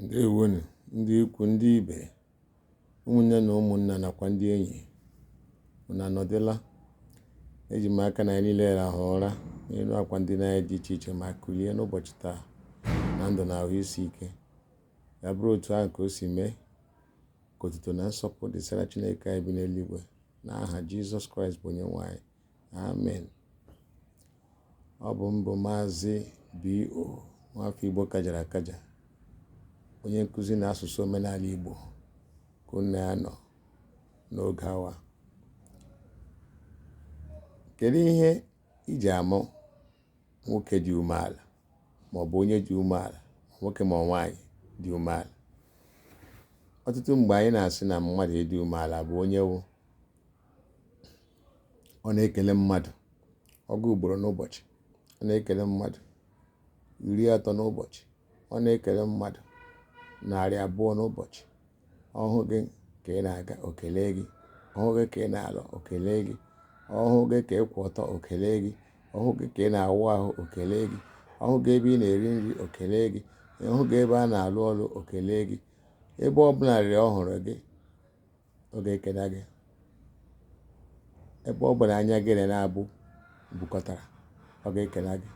ǹdeèwo nù ndị ikwu̇ ndị ibè ụmụ̀ nne nà ụmụ̀ nnà nàkwà ndị enyì unù ànọ̀dụla e jì m aka nà ànyị niilė rahụ̀ ụra n'elu àkwà ndinȧ anyị dị ichè ichè mà kùlie n'ụbọ̀chị̀ taà nà ndụ̀ nà àhụ isi ike yà bụrụ òtù ahụ̀ kà o sì mee kà òtùtò nà nsọpụ̀ dị̀sara chinėkè anyị bi n'eluigwė nà ahà jizọs kraịst bụ̀ onye nwė anyị Amen. Ọ bụ m bụ Maazị B.O. nwafọ Igbo kajara akaja onye nkụzi na asụsụ omenala Igbo ka unu na ya nọ n'oge awa kedu ihe e ji ama nwoke dị umeala maọbụ onye dị umeala nwoke ma nwaanyị dị umeala ọtụtụ mgbe anyị na-asị na mmadụ ịdị umeala bụ onye wụ ọ na-ekele mmadụ ọgụ ugboro n'ụbọchị ọ na-ekele mmadụ iri atọ n'ụbọchị ọ na-ekele mmadụ narị abụọ n'ụbọchị ọ hụ gị ka ị na-aga o kelee gị ọ hụ gị ka ị na-alọ o kelee gị ọ hụ gị ka ị kwụ ọtọ o kelee gị ọ hụ gị ka ị na-awụ ahụ o kelee gị ọ hụ gị ebe ị na-eri nri o kelee gị ọ hụ gị ebe a na-alụ ọrụ o kelee gị ebe ọ bụla rịrị ọ hụrụ gị ọ ga-ekene gị ebe ọ bụna anya gị na ya naabọ bukọtara ọ ga-ekene gị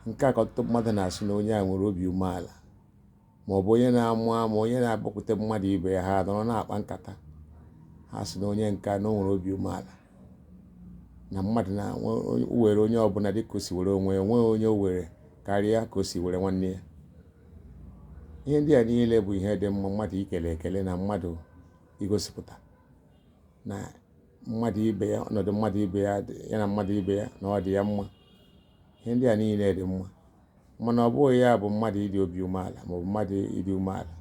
nke a ka ọtụtụ mmadụ na-asị na onye a nwere obi umeala ma ọ bụ onye na-amụ amụ onye na-agbakwute mmadụ ibe ya ha anọrọ na-akpa nkata ha sị na onye nke a na o nwere obi umeala na mmadụ na-ewere onye ọbụla dịka o si were onwe ya onweghị onye o were karịa ka o si were nwanne ya ihe ndị a niile bụ ihe dị mma mmadụ ikele ekele na mmadụ igosipụta na mmadụ ibe ya ọnọdụ ya na mmadụ ibe ya na ọ dị ya mma ihe ndị a niile dị mma mana ọ bụghị ya bụ mmadụ ịdị obi umeala maọbụ mmadụ ịdị umeala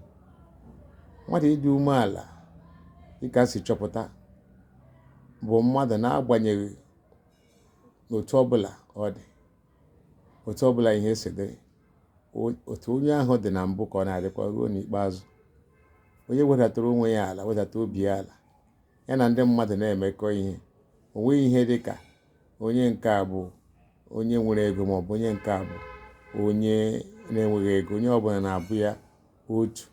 mmadụ ịdị umeala dịka si chọpụta bụ mmadụ na-agbanyeghị otu ọbụla ọ dị otu ọbụla ihe si dị otu onye ahụ dị na mbụ ka ọ na-adịkwa ruo n'ikpeazụ onye wedatara onwe ya ala wedata obi ya ala ya na ndị mmadụ na-emekọ ihe o nweghị ihe dị ka onye nke a bụ onye nwere ego ma ọ bụ onye nke a bụ onye na-enweghị ego onye ọbụla na-abụ ya otu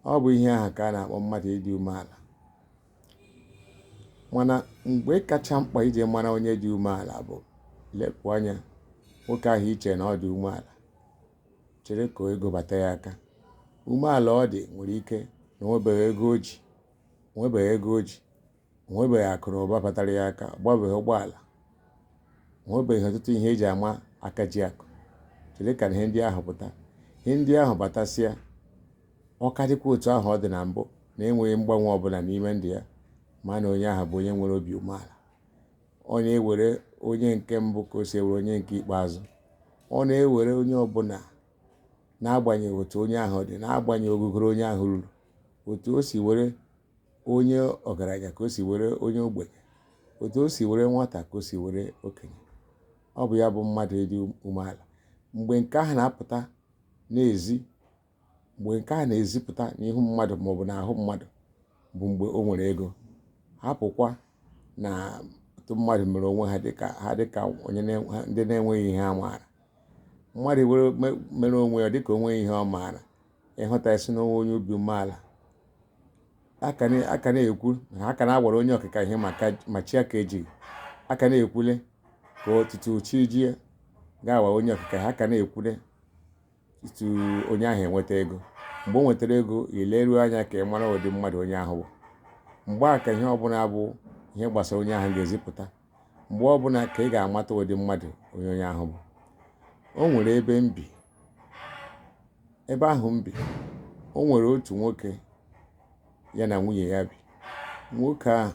ọ bụ ihe ahụ ka a na-akpọ mmadụ ịdị umeala mana mgbe kacha mkpa iji mara onye dị umeala bụ lepụ anya nwoke ahụ i che na ọ dị umeala chere ka ego bata ya aka umeala ọ dị nwere ike na o nwebeghị ego o ji o nwebeghị akụ na ụba batara ya aka ọ gbabeghị ụgbọala o nwebeghị ọtụtụ ihe eji ama aka ji akụ chere ka ihe ndị ahụ pụta ihe ndị ahụ batasịa ọ ka dịkwa otu ahụ ọ dị na mbụ na-enweghị mgbanwe ọbụla n'ime ndụ ya ma na onye ahụ bụ onye nwere obi umeala ọ na-ewere onye nke mbụ ka o si ewere onye nke ikpeazụ ọ na-ewere onye ọbụla n'agbanyeghị otu onye ahụ dị n'agbanyeghị ogugoro onye ahụ ruru otu o si were onye ọgaranya ka o si were onye ogbenye otu o si were nwata ka o si were okenye ọ bụ ya bụ mmadụ ịdị umeala mgbe nke ahụ na-apụta na-ezi mgbe nke ahụ na-ezipụta n'ihu mmadụ maọbụ n'ahụ mmadụ bụ mgbe o nwere ego hapụkwa na otu mmadụ mere onwe ha dịka ndị na-enweghị ihe ha maara mmadụ mere onwe ya dịka o nweghị ihe ọ maara ị hụta ị sị na ọ bụ onye obi umeala a ka na-ekwu na ha ka na-agwara onye ọkịka ihe ma chi aka ejighị a ka na-ekwule tutu chi jie ga-awa onye ọkịka ha ka na-ekwule tutu onye ahụ enweta ego mgbe o nwetara ego i leruo anya ka ị mara ụdị mmadụ onye ahụ bụ mgbe a ka ihe ọbụla bụ ihe gbasara onye ahụ ga-ezipụta mgbe ọbụla ka ị ga-amata ụdị mmadụ onye onye ahụ bụ o nwere ebe m bi ebe ahụ m bi o nwere otu nwoke ya na nwunye ya bi nwoke ahụ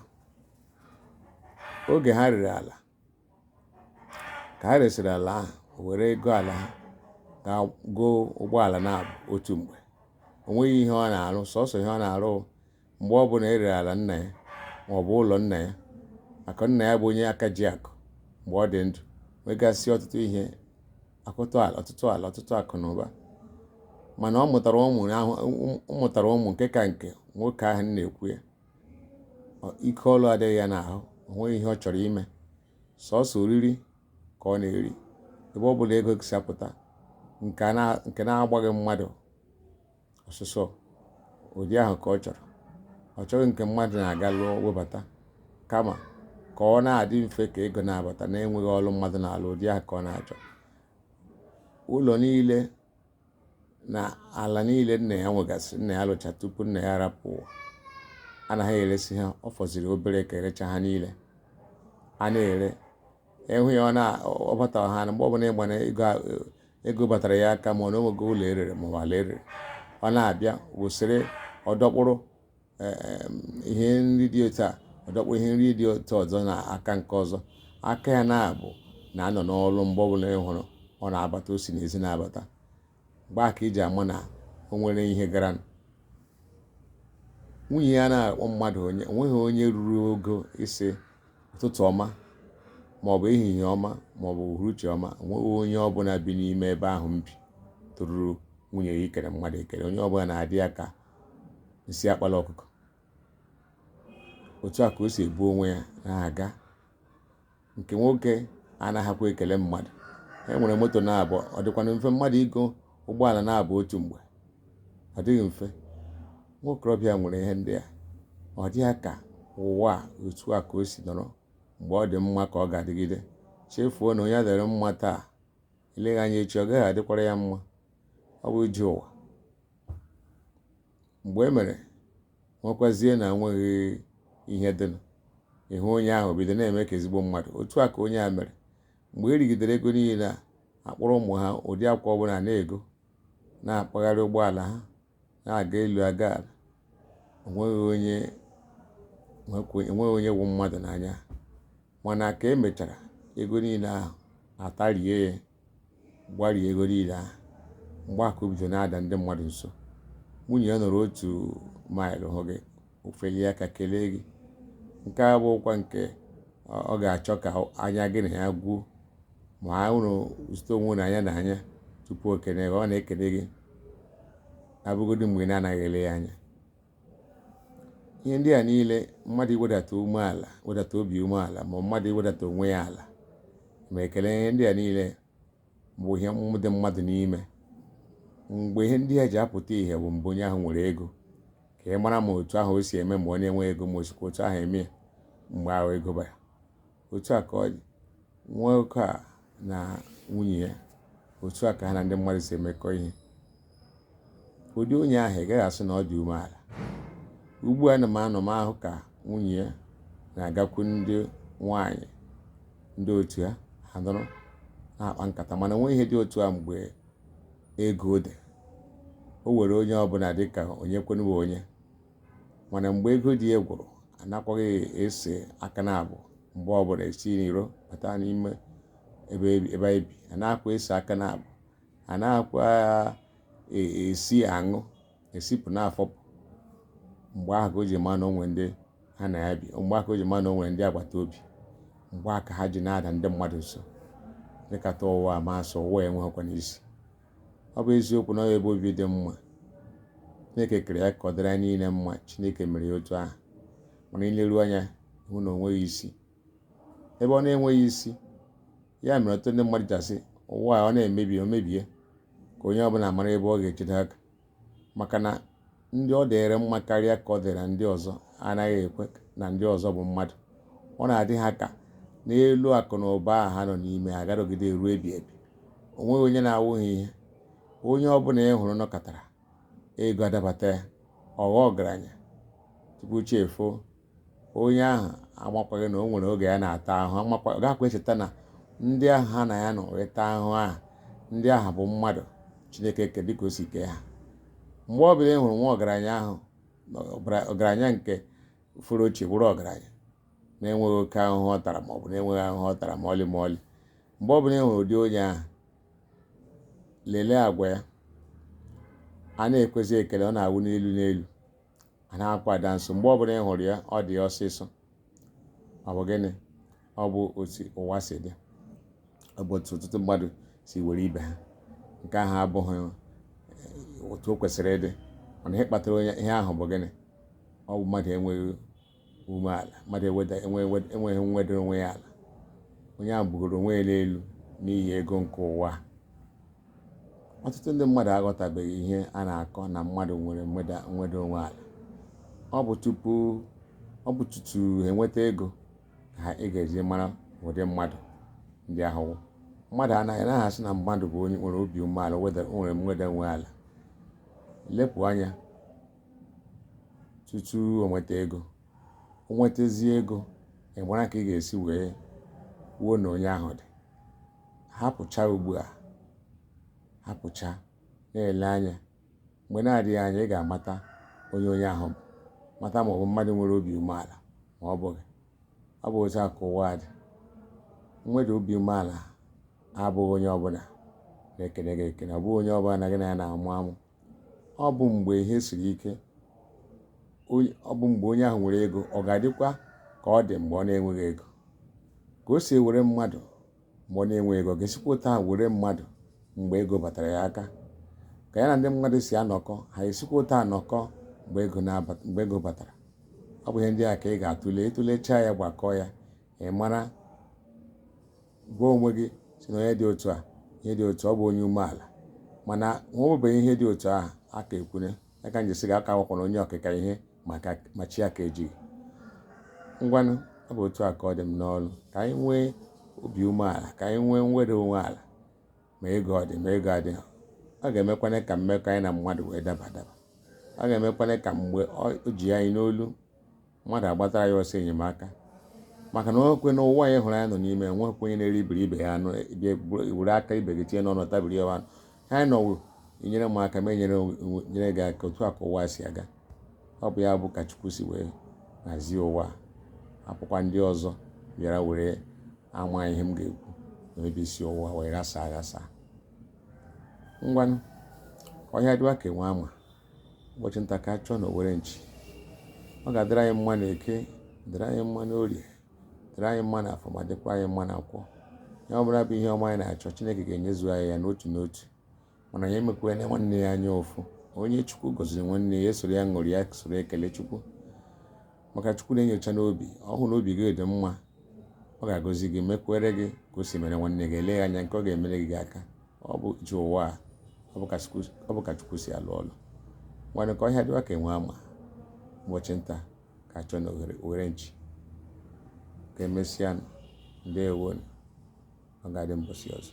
oge ha rere ala ka ha resịrị ala ahụ o were ego ala ha ga goo ụgbọala naabụ otu mgbe o nweghị ihe ọ na-arụ sọsọ ihe ọ na-arụ mgbe ọ bụla e rere ala nna ya ma ọ bụ ụlọ nna ya, maka nna ya bụ onye aka ji akụ mgbe ọ dị ndụ nwegasị ọtụtụ ihe akụ ala ọtụtụ ala ọtụtụ akụ na ụba mana ọ mụtara ụmụ nke ka nke nwoke ahụ a na-ekwu ya Ọ- ike ọlụ adịghị ya n'ahụ o nweghị ihe ọ chọrọ ime sọsọ oriri ka ọ na-eri ebe ọ bụla ego si apụta nke a na- nke na-agbaghị mmadụ ọsụsọ ụdị ahụ ka ọ chọrọ ọ chọghị nke mmadụ na-aga lụọ webata kama ka ọ na-adị mfe ka ego na-abata na-enweghị ọlụ mmadụ na-alụ ụdị ahụ ka ọ na-achọ ụlọ niile na ala niile nna ya nwegasị nna ya lụcha tupu nna ya rapụ ụwa ana ha eresị ha ọ fọziri obere ka e recha ha niile a na-ere ịhụ ya ọ bata ha na mgbe ọbụla ịgba na ego ego batara ya aka mana onwego ụlọ erere maọbụ ala erere ọ na-abịa wụsịrị ọ dọkpụrụ e, e, ihe nri dị otu a ọ dọkpụrụ ihe nri dị otu ọzọ na aka nke ọzọ aka ya naabọ na-anọ n'ọrụ mgbe ọbụla ị hụrụ ọ na-abata o si n'ezi na-abata mgbe a ka i ji ama na o nwere ihe gara nwunye ya na-akpọ mmadụ onye onweghị onye ruru ogo ịsị ụtụtụ ọma maọbụ ehihie ọma maọbụ uhuruchi ọma onweghị onye ọbụla bi n'ime ebe ahụ m bi toruru nwunye ya ikele mmadụ ekele onye ọbụla na-adị ya ka nsị akpala ọkụkọ otu a ka o si ebu onwe ya na-aga nke nwoke anaghịkwa ekele mmadụ e nwere moto naabọ ọ dịkwanụ mfe mmadụ igo ụgbọala naabọ otu mgbe ọ dịghị mfe nwokorobịa nwere ihe ndị a ọ dị ya ka ụwa otu a ka o si nọrọ mgbe ọ dị mma ka ọ ga-adịgide chefuo na onye ọ dịịrị mma taa eleghị anya echi ọ gaghị adịkwara ya mma ọ bụ ije ụwa mgbe e mere nwekwazie na enweghị ihe dịnụ ị hụ onye ahụ bido na-eme ka ezigbo mmadụ otu a ka onye a mere mgbe e rigidere ego niile a akpọrọ ụmụ ha ụdị akwụkwọ ọbụla na-ego na-akpagharị ụgbọala ha na-aga elu aga ala enweghị onye wụ mmadụ n'anya mana ka e mechara ego niile ahụ atarie ya gbarie ego niile ahụ mgbe a ka o bido na-ada ndị mmadụ nso nwunye ya nọrọ otu maịlụ hụ gị o felie aka kelee gị nke a bụkwa nke ọ ga-achọ ka anya gị na ya gwuo ma ụnụ zute onwe ụnụ anya na anya tupu o kene gị ọ na-ekene gị abụgodị mgbe ị na-anaghị ele ya anya ihe ndị a niile mmadụ iwedata umeala wedata obi umeala ma mmadụ iwedata onwe ya ala ma ekele ihe ndị a niile bụ ihe dị mmadụ n'ime mgbe ihe ndị a ji apụta ihe bụ mgbe onye ahụ nwere ego ka ị mara ma otu ahụ o si eme mgbe onye nwe ego ma o sikwa otu ahụ eme mgbe ahụ ego bara otu a ka ọ dị nwoke a na nwunye ya otu a ka ha na ndị mmadụ si emekọ ihe Ụdị onye ahụ ị gaghị asị na ọ dị umeala. Ugbu a ana m anọ m ahụ ka nwunye ya na-agakwu ndị nwaanyị ndị otu ya ha nọrọ na-akpa nkata mana o nweghị ihe dị otu a mgbe ego dị o were onye ọbụla dị ka onye kwanụ wụ onye mana mgbe ego dị ya gwụrụ anakwaghị ese aka naabọ mgbe ọbụla e si n'iro bata n'ime ebe ebe anyị bi anakwaghị ese aka naabọ anakwa esi aṅụ esipụ na-afọpụ mgbe ahụ ka o ji ma na o nwere ndị ha na ya bi mgbe ahụ ka o ji ma na o nwere ndị agbata obi mgbe ahụ ka ha ji na-ada ndị mmadụ nso dịkata ụwa m asị ụwa enweghịkwanụ isi ọ bụ eziokwu na ọ ebe obi dị mma chineke kere ya ka ọ dịrị anyị niile mma chineke mere ya otu ahụ mana i leru anya hụ na o nweghị isi ebe ọ na-enweghị isi ya mere ọtụtụ ndị mmadụ ji asị ụwa ọ na-emebi o mebie ka onye ọbụla mara ebe ọ ga-ejide aka maka na ndị ọ dịrị mma karịa ka ọ dịrị ndị ọzọ anaghị ekwe na ndị ọzọ bụ mmadụ ọ na-adị ha ka n'elu akụ na ụba a ha nọ n'ime ga-adịgide ruo ebi ebi o nweghị onye na-awụghị ihe onye ọbụla ị hụrụ nọkọtara ego adabata ya ọ ghọọ ọgaranya tupu chi efoo onye ahụ amakwaghị na o nwere oge ya na-ata ahụ amakwa ọ gaghịkwa echeta na ndị ahụ ha na ya nọ wee taa ahụ ahụ ndị ahụ bụ mmadụ chineke ke dịka o si kee ha mgbe ọ bụla ị hụrụ nwa ọgaranya ahụ na ọbara- ọgaranya nke furu ochie bụrụ ọgaranya na-enweghị oke ahụhụ ọ tara ma ọ bụ na-enweghị ahụhụ ọ tara ma ọlị ma ọlị mgbe ọ bụla ị hụrụ ụdị onye ahụ lelee agwa ya a na-ekwezi ekele ọ na-awụ n'elu n'elu anakwa ada nso mgbe ọbụla ị hụrụ ya ọ dị ya ọsịsọ ọ bụ gịnị ọ bụ otu ụwa si dị ọ bụ otu ọtụtụ mmadụ si were ibe ha nke ahụ abụghị eh, otu o kwesịrị ịdị mana ihe kpatara onye ihe ahụ bụ gịnị ọ bụ mmadụ enweghị umeala mmadụ enweghị nweda onwe ya ala onye ahụ bugoro onwe ya n'elu n'ihi ego nke ụwa ọtụtụ ndị mmadụ aghọtabeghị ihe a na-akọ na mmadụ nwere nweda onwe ala ọ bụ tupu ọ bụ tutu ha enweta ego ka ha ị ga-eji mara ụdị mmadụ ndị ahụ mmadụ anaghị anaghị asị na mmadụ bụ onye nwere obi umeala nwere mweda onwe ala lepụ anya tutu o nweta ego o nwetazie ego ị mara ka ị ga-esi wee kwuo na onye ahụ dị hapụcha ugbu a hapụcha na-ele anya mgbe na-adịghị anya ị ga-amata onye onye ahụ bụ mata ma ọ bụ mmadụ nwere obi umeala ma ọ bụghị ọ bụ otu a ka ụwa dị nweda obi umeala abụghị onye ọbụla na-ekene gị ekene ọ bụghị onye ọbụla na gị na ya na-amụ amụ ọ bụ mgbe ihe siri ike ọ bụ mgbe onye ahụ nwere ego ọ ga-adịkwa ka ọ dị mgbe ọ na-enweghị ego ka o si ewere mmadụ mgbe ọ na-enweghị ego ga-esikwa taa were mmadụ mgbe ego batara ya aka ka ya na ndị mmadụ si anọkọ ha esikwa otu a anọkọ mgbe ego batara ọ bụ ihe ndị a ka ị ga-atụle ị tụlechaa ya gbakọọ ya ị mara gwa onwe gị sị na onye dị otu a ihe dị otu ọ bụ onye umeala mana nwebeghị ihe dị otu ahụ aka ekwune ya ka njesi ga aka wakwana onye okike ihe ma chi aka ejighị ngwanụ ọ bụ otu a ka ọ dị m n'olu ka anyị nwee obi umeala ka anyị nwee mweda onwe ala ma ego ọ dị ma ego adịghị ọ ga-emekwana ka mmekọ anyị na mmadụ wee daba daba ọ ga-emekwana ka mgbe o ji anyị n'olu mmadụ agbatara ya ọsọ enyemaka maka na o nwekwe na ụwa a ị hụrụ anyị nọ n'ime enwekwa onye na-eribiri ibe ya anụ were aka ibe gị tinye n'ọnụ tabiri ya anụ anyị nọ wụ i nyere m aka m enyere gị aka otu a ka ụwa si aga ọ bụ ya bụ ka Chukwu si wee hazie ụwa hapụkwa ndị ọzọ bịara were ama ihe m ga-ekwu n'ebe isi ụwa wee ghasa aghasa ngwanụ ọhịa dịwa ka enwe ama ụbọchị nta ka a chụọ na owere nchi ọ ga-adịrị anyị mma na eke dịrị anyị mma na orie dịrị anyị mma na afọ ma dịkwa anyị mma na nkwọ ihe ọbụla bụ ihe ọma anyị na-achọ chineke ga-enyezu anyị ya n'otu n'otu mana onye emekwana nwanne ya anya ụfụ onye chukwu gọziri nwanne ya esoro ya ṅụrịa soro ekele chukwu maka chukwu na-enyocha n'obi ọ hụ na obi gị dị mma ọ ga-agọzi gị mekwere gị ka o si mere nwanne gị eleghị anya nke ọ ga-emere gị aka ọ bụ ije ụwa ọ bụ ka Chukwu si alụ ọlụ nwanne ka ọhịa dịwa ka enwe ama ụbọchị nta ka a chụọ na owere nchi ka emesịa ndewo nụ ọ ga-adị mbọsị ọzọ